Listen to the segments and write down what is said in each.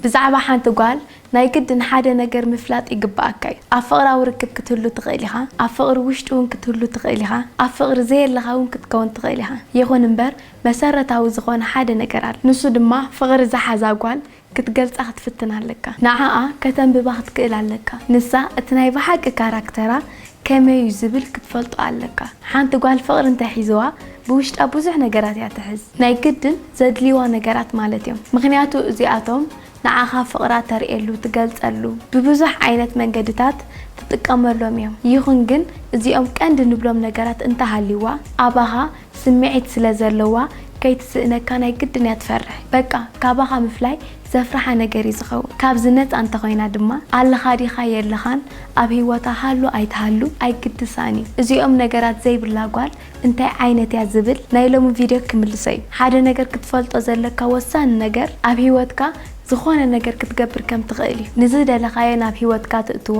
ብዛዕባ ሓንቲ ጓል ናይ ግድን ሓደ ነገር ምፍላጥ ይግበኣካ እዩ። ኣብ ፍቕራዊ ርክብ ክትህሉ ትኽእል ኢኻ፣ ኣብ ፍቕሪ ውሽጢ እውን ክትህሉ ትኽእል ኢኻ፣ ኣብ ፍቕሪ ዘየለኻ እውን ክትከውን ትኽእል ኢኻ። ይኹን እምበር መሰረታዊ ዝኾነ ሓደ ነገር ኣሎ። ንሱ ድማ ፍቕሪ ዝሓዛ ጓል ክትገልጻ ክትፍትን ኣለካ። ንዓኣ ከተንብባ ክትክእል ኣለካ። ንሳ እቲ ናይ ብሓቂ ካራክተራ ከመይ እዩ ዝብል ክትፈልጦ ኣለካ። ሓንቲ ጓል ፍቕሪ እንተ ሒዝዋ ብውሽጣ ብዙሕ ነገራት እያ ትሕዝ። ናይ ግድን ዘድልይዋ ነገራት ማለት እዮም። ምኽንያቱ እዚኣቶም ንዓኻ ፍቕራ ተርእየሉ፣ ትገልጸሉ፣ ብብዙሕ ዓይነት መንገድታት ትጥቀመሎም እዮም። ይኹን ግን እዚኦም ቀንዲ ንብሎም ነገራት እንተ ሃልይዋ ኣባኻ ስምዒት ስለ ዘለዋ ከይትስእነካ ናይ ግድን እያ ትፈርሕ። በቃ ካባኻ ምፍላይ ዘፍርሓ ነገር እዩ ዝኸውን። ካብዚ ነጻ እንተኾይና ድማ ኣለኻ ዲኻ የለኻን ኣብ ህይወታ ሃሉ ኣይትሃሉ ኣይግድሳን እዩ። እዚኦም ነገራት ዘይብላ ጓል እንታይ ዓይነት እያ ዝብል ናይ ሎሚ ቪድዮ ክምልሶ እዩ። ሓደ ነገር ክትፈልጦ ዘለካ ወሳኒ ነገር ኣብ ህይወትካ ዝኾነ ነገር ክትገብር ከም ትኽእል እዩ። ንዝደለኻዮ ናብ ህይወትካ ትእትዎ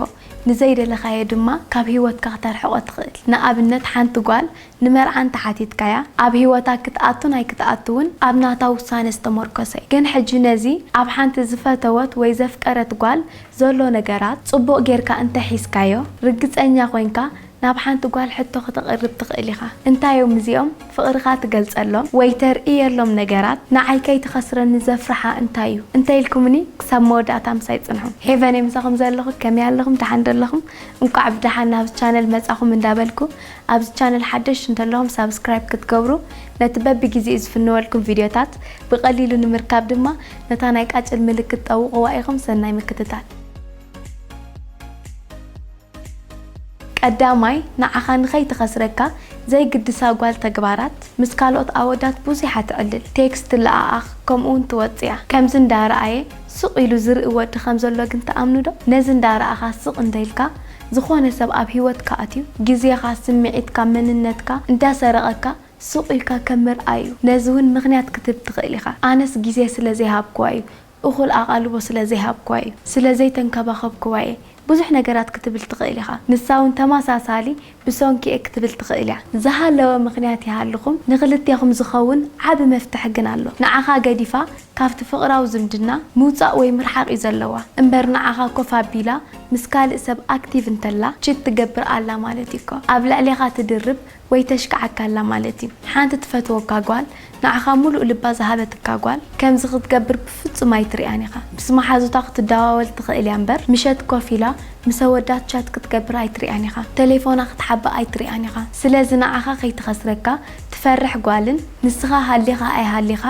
ንዘይደለኻዮ ድማ ካብ ህይወትካ ክተርሕቆ ትኽእል። ንኣብነት ሓንቲ ጓል ንመርዓ እንተ ሓቲትካያ ኣብ ሂወታ ክትኣቱን ኣይክትኣቱውን ኣብ ናታ ውሳነ ዝተሞርከሰ እዩ ግን ሕጂ ነዚ ኣብ ሓንቲ ዝፈተወት ወይ ዘፍቀረት ጓል ዘሎ ነገራት ጽቡቕ ጌርካ እንተ ሒዝካዮ ርግጸኛ ኮንካ ናብ ሓንቲ ጓል ሕቶ ከተቕርብ ትኽእል ኢኻ እንታይ እዮም እዚኦም ፍቕርኻ ትገልጸሎም ወይ ተርእየሎም ነገራት ንዓይ ከይትኸስረኒ ዘፍርሓ እንታይ እዩ እንተ ኢልኩምኒ ክሳብ መወዳእታ ምሳይ ጽንሑ ሄቨነይ ምሳኹም ዘለኹ ከመይ ኣለኹም ደሓን ዶ ኣለኹም እንቋዕ ብደሓን ናብዚ ቻነል መጻኹም እንዳ በልኩ ኣብዚ ቻነል ሓደሽቲ እንተለኹም ሳብስክራይብ ክትገብሩ ነቲ በቢ ጊዜኡ ዝፍነወልኩም ቪድዮታት ብቀሊሉ ንምርካብ ድማ ነታ ናይ ቃጭል ምልክት ጠውቕዋ ኢኹም ሰናይ ምክትታል። ቀዳማይ ንዓኻ ንኸይትኸስረካ ዘይግድሳ ጓል ተግባራት ምስ ካልኦት ኣወዳት ቡዙሕ ኣትዕልል ቴክስት ትለኣኣኽ ከምኡ ውን ትወጽያ ከምዚ እንዳ ረኣየ ስቕ ኢሉ ዝርኢ ወዲ ከም ዘሎ ግን ትኣምኑ ዶ ነዚ እንዳ ረኣኻ ስቕ እንተ ኢልካ ዝኾነ ሰብ ኣብ ሂወትካ ኣትዩ ግዜኻ ስምዒትካ መንነትካ እንዳሰረቐካ ሱቕ ኢልካ ከም ምርኣይ እዩ ነዚ ውን ምኽንያት ክትህብ ትኽእል ኢኻ ኣነስ ግዜ ስለ ዘይሃብክዋ እዩ እኹል ኣቓልቦ ስለ ዘይሃብክዋ እዩ ስለ ዘይተንከባኸብክዋ እየ ብዙሕ ነገራት ክትብል ትኽእል ኢኻ ንሳ ውን ተመሳሳሊ ብሰንኩ እየ ክትብል ትኽእል እያ ዝሃለወ ምኽንያት ይሃልኹም ንኽልቴኹም ዝኸውን ዓቢ መፍትሒ ግን ኣሎ ንዓኻ ገዲፋ ካብቲ ፍቕራዊ ዝምድና ምውጻእ ወይ ምርሓቕ እዩ ዘለዋ እምበር ንዓኻ ኮፍ ኣቢላ ምስ ካልእ ሰብ ኣክቲቭ እንተላ ቺት ትገብር ኣላ ማለት እዩ እኮ ኣብ ልዕሌኻ ትድርብ ወይ ተሽክዓካ ኣላ ማለት እዩ ሓንቲ ትፈትወካ ጓል ንዓኻ ሙሉእ ልባ ዝሃበትካ ጓል ከምዚ ክትገብር ብፍጹም ኣይትሪኣን ኢኻ ምስ መሓዙታ ክትደዋወል ትኽእል እያ እምበር ምሸት ኮፍ ኢላ ምስ ኣወዳት ቻት ክትገብር ኣይትሪኣን ኢኻ ተሌፎና ክትሓብእ ኣይትሪኣን ኢኻ ስለዚ ንዓኻ ከይትኸስረካ ትፈርሕ ጓልን ንስኻ ሃሊኻ ኣይሃሊኻ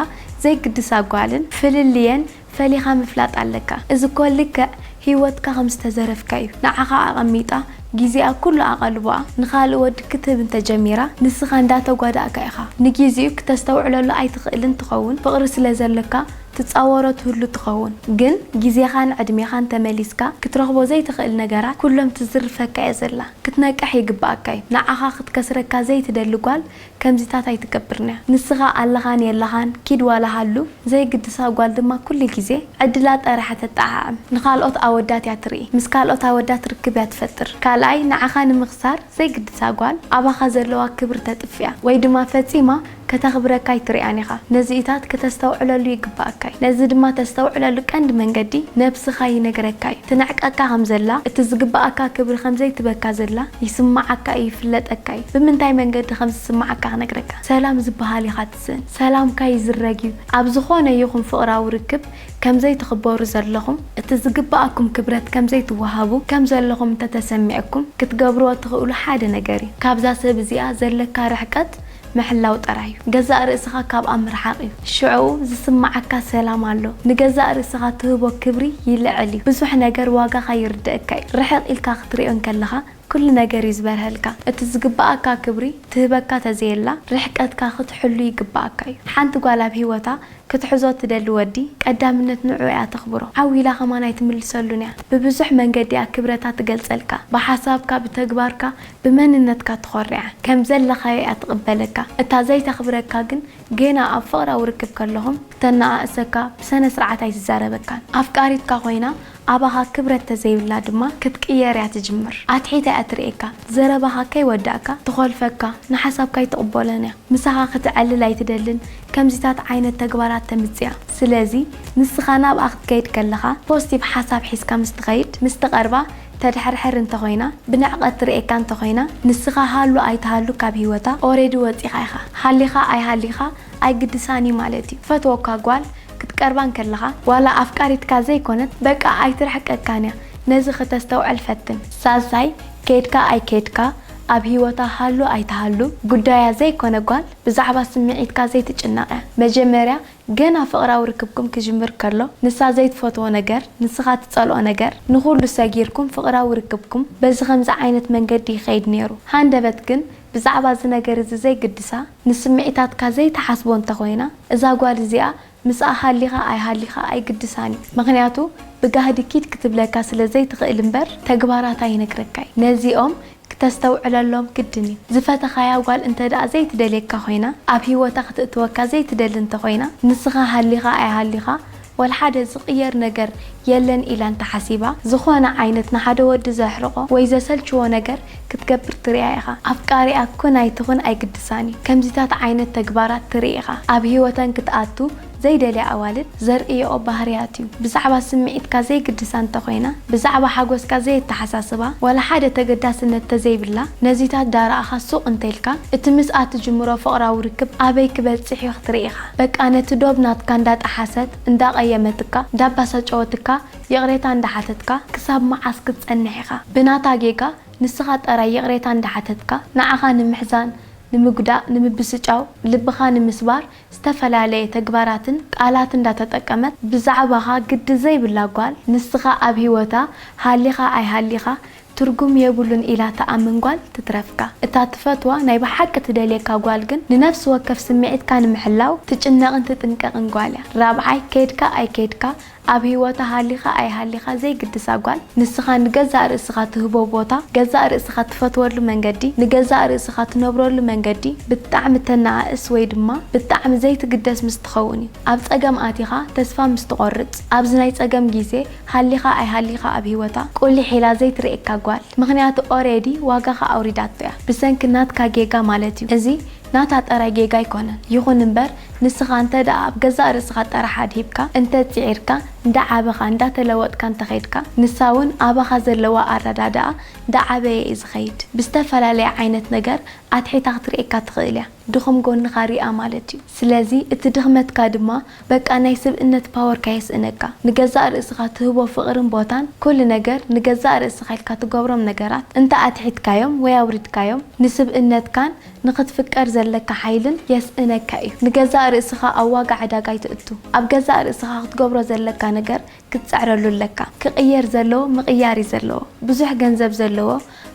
ዘይግድሳ ጓልን ፍልልየን ፈሊኻ ምፍላጥ ኣለካ እዚ እኮ ልክዕ ሂወትካ ከም ዝተዘረፍካ እዩ ንዓኻ ኣቀሚጣ ጊዜኣ ኩሉ ኣቀልቦኣ ንኻልእ ወዲ ክትህብ እንተ ጀሚራ ንስኻ እንዳ ተጓዳእካ ኢኻ ንጊዚኡ ክተስተውዕለሉ ኣይትኽእልን ትኸውን ፍቅሪ ስለ ዘሎካ ትጻወሮ ትህሉ ትኸውን ግን ጊዜኻን ዕድሜኻን ተመሊስካ ክትረኽቦ ዘይትኽእል ነገራት ኩሎም ትዝርፈካ እያ ዘላ ክትነቅሕ ይግብኣካ እዩ ንዓኻ ክትከስረካ ዘይትደሊ ጓል ከምዚታት ኣይትገብርን'ያ ንስኻ ኣለኻን የለኻን ኪድ ዋላ ሃሉ ዘይግድሳ ጓል ድማ ኩሉ ግዜ ዕድላ ጠራሓ ተጣዓዕም ንኻልኦት ኣወዳት እያ ትርኢ ምስ ካልኦት ኣወዳት ርክብ እያ ትፈጥር ካልኣይ ንዓኻ ንምኽሳር ዘይግድሳ ጓል ኣባኻ ዘለዋ ክብሪ ተጥፍእያ ወይ ድማ ፈጺማ ከተኽብረካ ኣይትሪኣን ኢኻ ነዚኢታት ክተስተውዕለሉ ይግባኣካ'ዩ ነዚ ድማ ተስተውዕለሉ ቀንዲ መንገዲ ነብስኻ ይነግረካ'ዩ ትንዕቀካ ከምዘላ እቲ ዝግባኣካ ክብሪ ከምዘይትበካ ዘላ ይስማዓካ'ዩ ይፍለጠካ'ዩ ብምንታይ መንገዲ ከም ዝስምዓካ ክነግረካ። ሰላም ዝበሃል ኢኻ ትስእን። ሰላምካ ይዝረግ እዩ። ኣብ ዝኾነ ይኹን ፍቕራዊ ርክብ ከም ዘይትኽበሩ ዘለኹም፣ እቲ ዝግብኣኩም ክብረት ከም ዘይትወሃቡ ከም ዘለኹም እንተ ተሰሚዕኩም ክትገብርዎ እትኽእሉ ሓደ ነገር እዩ። ካብዛ ሰብ እዚኣ ዘለካ ርሕቀት ምሕላው ጥራይ እዩ። ገዛእ ርእስኻ ካብኣ ምርሓቕ እዩ። ሽዕኡ ዝስምዓካ ሰላም ኣሎ። ንገዛእ ርእስኻ ትህቦ ክብሪ ይልዕል እዩ። ብዙሕ ነገር ዋጋኻ ይርደኣካ እዩ። ርሕቕ ኢልካ ክትርእዮ እንከለኻ ኩሉ ነገር እዩ ዝበርሀልካ እቲ ዝግበኣካ ክብሪ ትህበካ ተዘየላ ርሕቀትካ ክትሕሉ ይግበኣካ እዩ ሓንቲ ጓል ኣብ ሂወታ ክትሕዞ ትደሊ ወዲ ቀዳምነት ንዕኡ እያ ተኽብሮ ዓው ኢላ ከማን ኣይትምልሰሉን እያ ብብዙሕ መንገዲ እያ ክብረታ ትገልጸልካ ብሓሳብካ ብተግባርካ ብመንነትካ ትኾርዕያ ከምዘለኻዮ እያ ትቕበለካ እታ ዘይተኽብረካ ግን ጌና ኣብ ፍቕራዊ ርክብ ከለኹም ክተነኣእሰካ ብሰነስርዓት ኣይትዛረበካን ኣፍቃሪትካ ኮይና ኣባኻ ክብረት ተዘይብላ ድማ ክትቅየር እያ ትጅምር ኣትሒታ እያ ትርእየካ ዘረባኻ ከይወዳእካ ትኾልፈካ ንሓሳብካ ኣይትቕቦሎን እያ ምሳኻ ክትዕልል ኣይትደልን ከምዚታት ዓይነት ተግባራት ተምጽያ ስለዚ ንስኻ ናብኣ ክትከይድ ከለኻ ፖስቲቭ ሓሳብ ሒዝካ ምስ ትኸይድ ምስ ትቐርባ ተድሕርሕር እንተ ኾይና ብንዕቐት ትርእየካ እንተ ኾይና ንስኻ ሃሉ ኣይትሃሉ ካብ ሂወታ ኦሬዲ ወጺኻ ኢኻ ሃሊኻ ኣይሃሊኻ ኣይግድሳን እዩ ማለት እዩ ፈትወካ ጓል ክትቀርባ እንከለኻ ዋላ ኣፍቃሪትካ ዘይኮነት በቃ ኣይትርሕቀካን እያ ነዚ ክተስተውዕል ፈትን። ሳልሳይ ከድካ ኣይከድካ ኣብ ሂወታ ሃሉ ኣይትሃሉ ጉዳያ ዘይኮነ ጓል ብዛዕባ ስምዒትካ ዘይትጭነቕ እያ መጀመርያ ገና ፍቕራዊ ርክብኩም ክጅምር ከሎ ንሳ ዘይትፈትዎ ነገር ንስኻ ትጸልኦ ነገር ንኹሉ ሰጊርኩም ፍቕራዊ ርክብኩም በዚ ከምዚ ዓይነት መንገዲ ይኸይድ ኔሩ ሃንደበት ግን ብዛዕባ እዚ ነገር እዚ ዘይግድሳ ንስምዒታትካ ዘይትሓስቦ እንተ ኮይና እዛ ጓል እዚኣ ምስኣ ሃሊኻ ኣይሃሊኻ ኣይግድሳን እዩ ምኽንያቱ ብጋህዲ ኪድ ክትብለካ ስለ ዘይትኽእል እምበር ተግባራታ ይነግረካ'ዩ ነዚኦም ክተስተውዕለሎም ግድን እዩ ዝፈተኻያ ጓል እንተ ደኣ ዘይትደልየካ ኮይና ኣብ ሂወታ ክትእትወካ ዘይትደሊ እንተ ኮይና ንስኻ ሃሊኻ ኣይሃሊኻ ወልሓደ ዝቕየር ነገር የለን ኢላ እንተሓሲባ፣ ዝኾነ ዓይነት ንሓደ ወዲ ዘሕርቖ ወይ ዘሰልችዎ ነገር ክትገብር ትርእያ ኢኻ። ኣፍቃሪኣ ኩን ኣይትኹን ኣይግድሳን እዩ። ከምዚታት ዓይነት ተግባራት ትርኢ ኢኻ። ኣብ ህይወተን ክትኣቱ ዘይደልያ ኣዋልድ ዘርእይኦ ባህርያት እዩ። ብዛዕባ ስምዒትካ ዘይግድሳ እንተኾይና፣ ብዛዕባ ሓጎስካ ዘየተሓሳስባ፣ ዋላ ሓደ ተገዳስነት ተዘይብላ ነዚታት ዳረኣኻ ሱቕ እንተኢልካ፣ እቲ ምስኣ ትጅምሮ ፍቕራዊ ርክብ ኣበይ ክበጽሕ እዩ ክትርኢ ኢኻ። በቃ ነቲ ዶብ ናትካ እንዳጠሓሰት እንዳቀየመትካ እንዳባሳጨወትካ ይቅሬታ እንዳሓተትካ ክሳብ መዓስ ክትጸንሕ ኢኻ ብናታ ጌጋ ንስኻ ጠራይ ይቅሬታ እንዳሓተትካ ንዓኻ ንምሕዛን ንምጉዳእ ንምብስጫው ልብኻ ንምስባር ዝተፈላለየ ተግባራትን ቃላት እንዳተጠቀመት ብዛዕባኻ ግዲ ዘይብላ ጓል ንስኻ ኣብ ሂወታ ሃሊኻ ኣይሃሊኻ ትርጉም የብሉን ኢላ ትኣምን ጓል ትትረፍካ። እታ ትፈትዋ ናይ ብሓቂ ትደልየካ ጓል ግን ንነፍሲ ወከፍ ስምዒትካ ንምሕላው ትጭነቕን ትጥንቀቕን ጓል እያ። ራብዓይ ከድካ ኣይከድካ ኣብ ህይወታ ሃሊኻ ኣይሃሊኻ ዘይግድሳ ጓል ንስኻ ንገዛእ ርእስኻ ትህቦ ቦታ ገዛእ ርእስኻ ትፈትወሉ መንገዲ ንገዛእ ርእስኻ ትነብረሉ መንገዲ ብጣዕሚ ተነኣእስ ወይ ድማ ብጣዕሚ ዘይትግደስ ምስ ትኸውን እዩ። ኣብ ጸገም ኣቲኻ ተስፋ ምስ ትቖርጽ ኣብዚ ናይ ጸገም ግዜ ሃሊኻ ኣይሃሊኻ ኣብ ሂወታ ቁሊሕ ኢላ ዘይትርኤካ ጓል ምኽንያቱ ኦሬዲ ዋጋኻ ኣውሪዳቶ እያ ብሰንኪ ናትካ ጌጋ ማለት እዩ እዚ ናታ ጥራይ ጌጋ ኣይኮነን ይኹን እምበር ንስኻ እንተ ደኣ ኣብ ገዛእ ርእስኻ ጥራሕ ኣድሂብካ እንተ ጺዒርካ እንዳ ዓበኻ እንዳ ተለወጥካ እንተ ኸድካ ንሳ ውን ኣባኻ ዘለዋ ኣረዳድኣ እንዳ ዓበየ እዩ ዝኸይድ ብዝተፈላለየ ዓይነት ነገር ኣትሒታ ክትርኤካ ትኽእል እያ ድኹም ጎንኻ ርኣ ማለት እዩ ስለዚ እቲ ድኽመትካ ድማ በቃ ናይ ስብእነት ፓወርካ የስእነካ ንገዛእ ርእስኻ ትህቦ ፍቅርን ቦታን ኩሉ ነገር ንገዛእ ርእስኻ ኢልካ ትገብሮም ነገራት እንተ ኣትሒትካዮም ወይ ኣውሪድካዮም ንስብእነትካን ንኽትፍቀር ዘለካ ሓይልን የስእነካ እዩ ንገዛእ ርእስኻ ኣብ ዋጋ ዕዳጋ ኣይተእቱ ኣብ ገዛእ ርእስኻ ክትገብሮ ዘለካ ነገር ክትጽዕረሉ ኣለካ ክቅየር ዘለዎ ምቅያር እዩ ዘለዎ ብዙሕ ገንዘብ ዘለዎ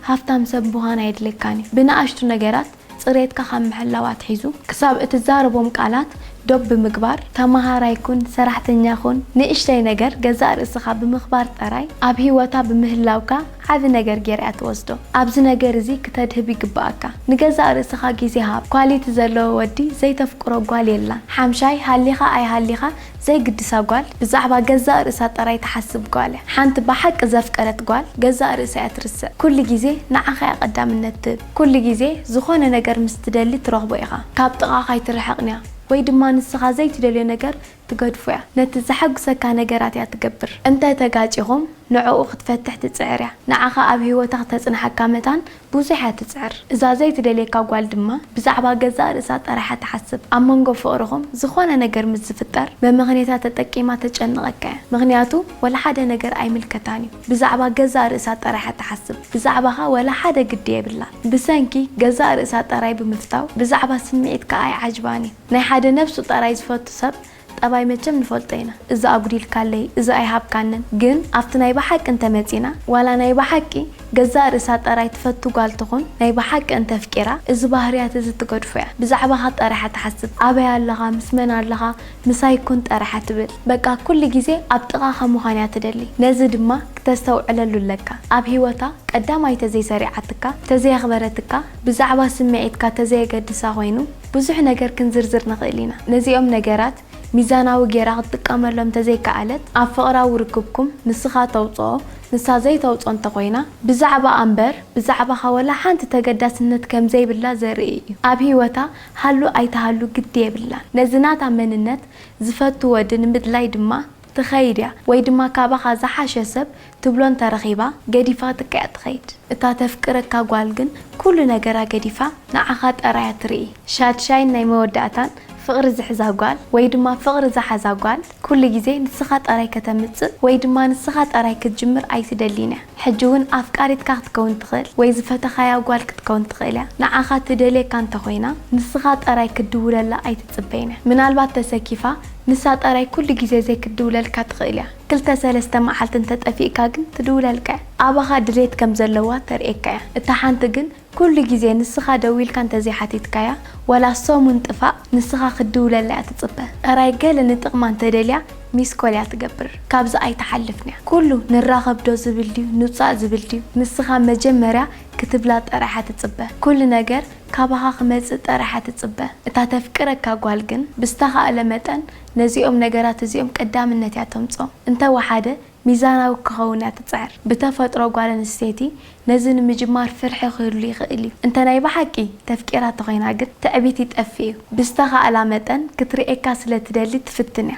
ሃፍታም ሰብ ምዃን ኣየድልየካን እዩ ብንኣሽቱ ነገራት ጽሬትካ ካብ ምሕላው ኣትሒዙ ክሳብ እትዛረቦም ቃላት ዶብ ብምግባር፣ ተመሃራይ ኩን፣ ሰራሕተኛ ኩን፣ ንእሽተይ ነገር ገዛእ ርእስኻ ብምኽባር ጥራይ ኣብ ህይወታ ብምህላውካ ዓቢ ነገር ጌራ እያ ትወስዶ። ኣብዚ ነገር እዚ ክተድህብ ይግበኣካ። ንገዛእ ርእስኻ ግዜ ሃብ። ኳሊቲ ዘለዎ ወዲ ዘይተፍቅሮ ጓል የላን። ሓምሻይ፣ ሃሊኻ ኣይሃሊኻ ዘይግድሳ ጓል ብዛዕባ ገዛእ ርእሳ ጥራይ ትሓስብ ጓል እያ። ሓንቲ ብሓቂ ዘፍቀረት ጓል ገዛእ ርእሳ እያ ትርስዕ። ኩሉ ግዜ ንዓኻ እያ ቀዳምነት ትህብ። ኩሉ ግዜ ዝኾነ ነገር ምስ ትደሊ ትረኽቦ ኢኻ። ካብ ጥቓኻ ኣይትርሕቕን'ያ ወይ ድማ ንስኻ ዘይትደልዮ ነገር ትገድፎ'ያ። ነቲ ዘሐጉሰካ ነገራት እያ ትገብር። እንተ ተጋጪኹም ንዕኡ ክትፈትሕ ትጽዕር እያ። ንዓኻ ኣብ ህይወታ ክተጽንሓካ መታን ብዙሕ እያ ትጽዕር። እዛ ዘይትደልየካ ጓል ድማ ብዛዕባ ገዛእ ርእሳ ጥራሕ እያ ትሓስብ። ኣብ መንጎ ፍቕርኹም ዝኾነ ነገር ምስ ዝፍጠር መመኽንየታ ተጠቂማ ተጨንቐካ'ያ። ምኽንያቱ ወላ ሓደ ነገር ኣይምልከታን'ዩ። ብዛዕባ ገዛእ ርእሳ ጥራይ እያ ትሓስብ፣ ብዛዕባኻ ዋላ ሓደ ግዲ የብላን። ብሰንኪ ገዛእ ርእሳ ጥራይ ብምፍታው ብዛዕባ ስምዒትካ ኣይዓጅባን እዩ። ናይ ሓደ ነብሱ ጥራይ ዝፈቱ ሰብ ጠባይ መቸም ንፈልጦ ኢና፣ እዚ ኣጉዲልካለይ፣ እዚ ኣይሃብካንን። ግን ኣብቲ ናይ ብሓቂ እንተ መጺእና፣ ዋላ ናይ ብሓቂ ገዛእ ርእሳ ጥራይ ትፈቱ ጓል ትኹን፣ ናይ ብሓቂ እንተ ኣፍቂራ፣ እዚ ባህርያት እዚ ትገድፎ እያ። ብዛዕባኻ ጥራይ እያ ትሓስብ፣ ኣበይ ኣለኻ፣ ምስ መን ኣለኻ፣ ምሳይ ኩን ጠራሓ ትብል በቃ ኩሉ ግዜ ኣብ ጥቃካ ምኳን እያ ትደሊ ነዚ ድማ ክተስተውዕለሉ ኣለካ ኣብ ሂወታ ቀዳማይ ተዘይ ሰሪዓትካ ተዘይ ኣክበረትካ ብዛዕባ ስሚዒትካ ተዘየገድሳ ኮይኑ ብዙሕ ነገር ክንዝርዝር ንክእል ኢና ነዚኦም ነገራት ሚዛናዊ ጌራ ክትጥቀመሎም ተዘይ ከኣለት ኣብ ፍቅራዊ ርክብኩም ንስካ ተውጽኦ ንሳ ዘይተውጽኦ እንተ ኮይና ብዛዕባኣ እምበር ብዛዕባካ ወላ ሓንቲ ተገዳስነት ከምዘይብላ ዘርኢ እዩ ኣብ ሂወታ ሃሉ ኣይትሃሉ ግዲ የብላን ነዚ ናታ መንነት ዝፈቱ ወዲ ንምድላይ ድማ ትኸይድ እያ ወይ ድማ ካባኻ ዝሓሸ ሰብ ትብሎ እንተረኺባ ገዲፋትካ እያ ትኸይድ እታ ተፍቅረካ ጓል ግን ኩሉ ነገራ ገዲፋ ንዓኻ ጠራይ እያ ትርኢ ሻድሻይን ናይ መወዳእታን ፍቕሪ ዝሕዛ ጓል ወይ ድማ ፍቕሪ ዝሓዛ ጓል ኩሉ ግዜ ንስኻ ጥራይ ከተምጽእ ወይ ድማ ንስኻ ጥራይ ክትጅምር ኣይትደሊን እያ። ሕጂ እውን ኣፍቃሪትካ ክትከውን ትኽእል ወይ ዝፈተኻያ ጓል ክትከውን ትኽእል እያ። ንዓኻ ትደልየካ እንተ ኾይና ንስኻ ጥራይ ክትድውለላ ኣይትጽበይን እያ። ምናልባት ተሰኪፋ ንሳ ጥራይ ኩሉ ግዜ ዘይክትድውለልካ ትኽእል እያ። ክልተ ሰለስተ መዓልቲ እንተ ጠፊእካ ግን ትድውለልካ እያ። ኣባኻ ድሌት ከም ዘለዋ ተርእየካ እያ። እታ ሓንቲ ግን ኩሉ ግዜ ንስኻ ደዊልካ እንተዘይሓቲትካያ ዋላ ሰሙን ጥፋእ ንስኻ ክትድውለላ እያ ትጽበ ጥራይ ገለ ንጥቕማ እንተደልያ ሚስኮል እያ ትገብር ካብዚ ኣይትሓልፍንያ ኩሉ ንራኸብ ዶ ዝብል ድዩ ንውጻእ ዝብል ድዩ ንስኻ መጀመርያ ክትብላ ጥራይ እያ ትጽበ ኩሉ ነገር ካባኻ ክመጽእ ጥራይ እያ ትጽበ እታ ተፍቅረካ ጓል ግን ብዝተኻእለ መጠን ነዚኦም ነገራት እዚኦም ቀዳምነት እያ ተምጽኦም እንተወሓደ ሚዛናዊ ክኸውን እያ ትጽዕር። ብተፈጥሮ ጓል ኣንስተይቲ ነዚ ንምጅማር ፍርሒ ክህሉ ይኽእል እዩ። እንተ ናይ ብሓቂ ተፍቂራ ተኾይና ግን ትዕቢት ይጠፍእ እዩ። ብዝተኻእላ መጠን ክትርእየካ ስለ ትደሊ ትፍትን እያ።